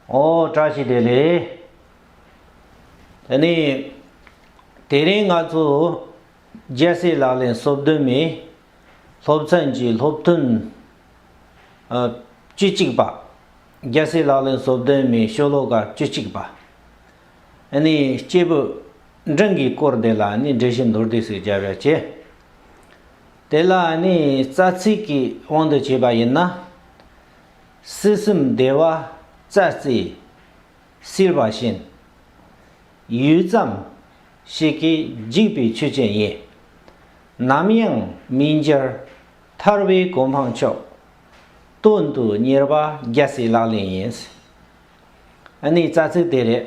ཨོ་བཀྲ་ཤིས་བདེ་ལེགས། དེ་ནས་དེ་རིང་ང་ཚོ་རྒྱལ་སྲས་ལག་ལེན་གསོལ་སྡོད་མའི་སློབ་ཚན་གྱི་སློབ་ཐུན་བཅུ་གཅིག་པ། རྒྱལ་སྲས་ལག་ལེན་གསོལ་སྡོད་མའི་ཤོ་ལོ་ཀ་བཅུ་གཅིག་པ། དེ་ནས་སྐྱེས་བུ་འབྲིང་གི་སྐོར་དེ་ལ་ནི་འགྲེལ་བཤད་མདོར་བསྡུས་སུ་བརྒྱ་བརྒྱ་བྱས། དེ་ལ་ནི་རྩ་ཚིག་གི་དབང་དུ་བྱས་པ་ཡིན་ན། སྲིད་གསུམ་བདེ་བ་རྩ་རྩེའི་བསིལ་བ་བཞིན། ཡུད་ཙམ་ཞིག་གིས་འཇིག་པའི་ཆུ་ཅན་ཡིན། ནམ་ཡང་མི་འགྱུར་ཐར་བའི་གོ་འཕང་མཆོག། སྟོན་དུ་གཉེར་བ་རྒྱལ་སྲིད་ལག་ལེན་ཡིན། ནི་རྩ་ཚིག་དེ་རེད།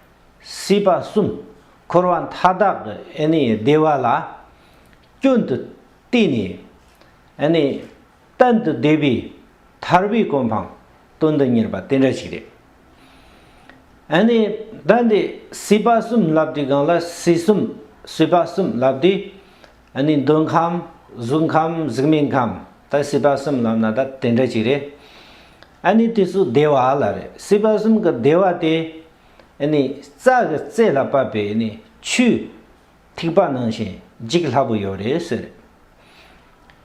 སྲིད་པ་གསུམ་འཁོར་བ་མཐའ་དག་གི་བདེ་བ་ལ་སྐྱོན་དུ་བལྟས་ནས། གཏན་དུ་བདེ་བའི་ཐར་པའི་གོ་འཕང་སྟོན་དུ་གཉེར་པ་དེ་འདྲ་ཞིག་རེད། ད་ནི་སྲིད་པ་གསུམ་བསླབ་དུས་གང་ལ་སྲིད་གསུམ་སྲིད་པ་གསུམ་བསླབ་དུས་ཨ་ནི་འདོད་ཁམས་གཟུགས་ཁམས་གཟུགས་མེད་ཁམས་ད་སྲིད་པ་གསུམ་ལམ་ན་ད་དེ་འདྲ་ཅིག་རེད་ཨ་ནི་དེ་ཚོ་བདེ་བ་ལ་རེད་སྲིད་པ་གསུམ་གི་བདེ་བ་དེ་ཨ་ནི་རྩ་གི་རྩེ་ལ་བབས་པའི་ཨ་ནི་ཆུའི་ཐིགས་པ་ནང་བཞིན་འཇིག་སླ་པོ་ཡོད་རེད་ཟེར་རེད་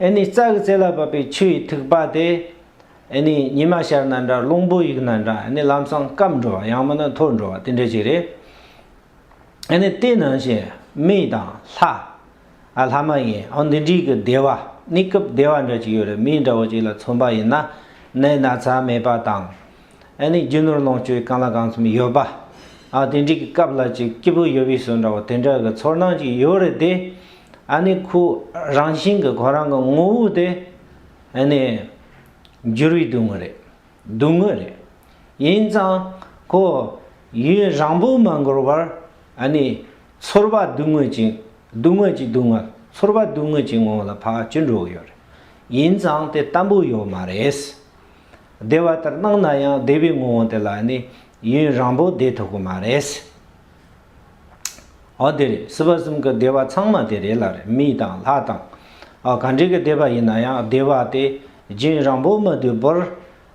ཨ་ནི་རྩ་གི་རྩེ་ལ་བབས་པའི་ཆུའི་ཐིགས་པ་དེ་ཨ་ནི་ཉི་མ་ཤར་ན་འདྲ་རླུང་བུ་གཡུག་ན་འདྲ་ཨ་ནི་ལམ་སང་སྐམ་འགྲོ་བ་ཡང་མིན་ན་འཐོར་འགྲོ་བ་དེ་འདྲ་ཅིག་རེད། ཨ་ནི་དེ་ནང་བཞིན་མི་དང་ལྷ། ཨ་ལྷ་མ་ཡིན་ཨོ་འདི་འདྲིས་ཀྱི་བདེ་བ་ནི་སྐབས་བདེ་བ་འདྲ་གཅིག་ཡོད་རེད་མི་འདྲ་བོ་གཅིག་ལ་མཚོན་པ་ཡིན་ན་ནི་ན་ཚ་མེད་པ་དང། ཨ་ནི་རྒྱུ་ནོར་ལོངས་སྤྱོད་གང་ལ་གང་འཚམ་ཡོད་པ། ཨ་དེ་འདྲིས་ཀྱི་སྐབས་ལ་ཅིག་སྐྱིད་པོ་ཡོད་པའི་ཟོལ་འདྲ་བོ་དེ་འདྲ་གི་ཚོར་སྣང་ཅིག་ཡོད་རེད་དེ། ཨ་ནི་ཁོ་རང་བཞིན་གྱི་ཁོ་རང་གི་ངོ་བོ་དེ་ཨ་ནི་འགྱུར་བའི་དུས་ངོ་རེད། སྡུག་དངོས་རེད། ཡིན་ཙང། ཁོ། ཡུན་རང་པོ་མ་འགོར་བར། ཨ་ནི། ཚོར་བ་སྡུག་དངོས་ཅིག། སྡུག་དངོས་ཀྱི་སྡུག་བསྔལ། ཚོར་བ་སྡུག་དངོས་ཀྱི་ངང་ལ་བག་ཅི་འགྲོ་གི་ཡོད་རེད། ཡིན་ཙང་དེ་ལྟ་བུ་ཡོད་མ་རེད། བདེ་བ་ལྟར་སྣང་ན་ཡང་བདེ་བའི་ངོ་བོ་དེ་ལ་ནི། ཡུན་རང་པོ་བདེ་ཐུབ་གི་མ་རེད། ཨོ་དེ་རེད་སྲིད་པ་གསུམ་གི་བདེ་བ་ཚང་མ་དེ་རེད་ལ་རེད་མི་དང་ལྷ་དང། གངས་རིའི་གི་བདེ་བ་ཡིན་ན་ཡང་བདེ་བ་དེ་རྒྱུན་རང་པོ་མི་དུལ་པོར་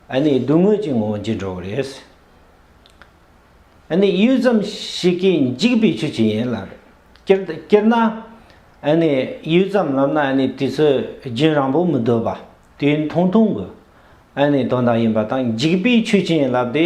ཨ་ནི་སྡུག་དངོས་ཀྱི་ངང་འགྱིང་འགྲོ་རེད། ཨ་ནི་ཡུད་ཙམ་ཞིག་གིས་འཇིག་པའི་ཆུ་གཅིག་ཡིན་ལ་རེད། སྤྱིར་ན་ཨ་ནི་ཡུད་ཙམ་ལབ་ན་ཨ་ནི་དུས་ཚོད་རྒྱུན་རང་པོ་མི་དུལ་པ་དུས་ཐུང་ཐུང་གི་ཨ་ནི་དོན་དག་ཡིན་པ་དང་འཇིག་པའི་ཆུ་གཅིག་ཡིན་ལབ་དེ།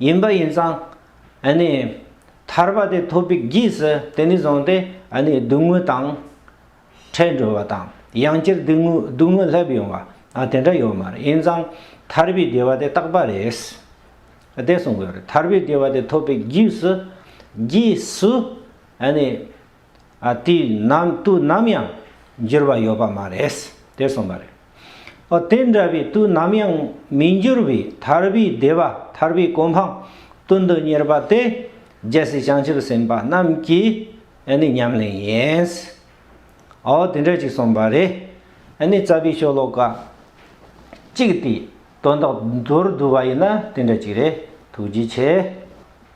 ཡིན་པ་ཡིན་ཙང། ཐར་པ་དེ་ཐོབ་པའི་རྗེས་སུ་དེ་ནས་བཟུང་སྟེ་སྡུག་བསྔལ་དང་བྲལ་འགྲོ་བ་དང། ཡང་བསྐྱར་སྡུག་བསྔལ་སླེབས་ཡོང་བ་དེ་འདྲ་ཡོད་མ་རེད། ཡིན་ཙང་ཐར་པའི་བདེ་བ་དེ་རྟག་པ་རེད། བདེ་གསུངས་པ་རེད། ཐར་པའི་བདེ་བ་དེ་ཐོབ་པའི་རྗེས་སུ། དུས་ནམ་དུས་ནམ་ཡང་འགྱུར་བ་ཡོད་པ་མ་རེད་དེ་གསུངས་པ་རེད། ཨོ་དེ་འདྲ་བའི་དུས་ནམ་ཡང་མི་འགྱུར་བའི་ཐར་པའི་བདེ་བ་ཐར་པའི་གོ་འཕང་དོན་དུ་གཉེར་པ་དེ་རྒྱལ་སྲས་བྱང་ཆུབ་སེམས་དཔའ་རྣམས་ཀྱི་ནི་ཉམས་ལེན་ཡིན། ཨོ་དེ་འདྲ་ཅིག་གསུངས་པ་རེད། ནི་རྩ་བའི་ཤོ་ལོ་ཀ་གཅིག་དེའི་དོན་དག་མདོར་བསྡུ་བ་ཡིན་ན་དེ་འདྲ་ཅིག་རེད་ཐུགས་རྗེ་ཆེ།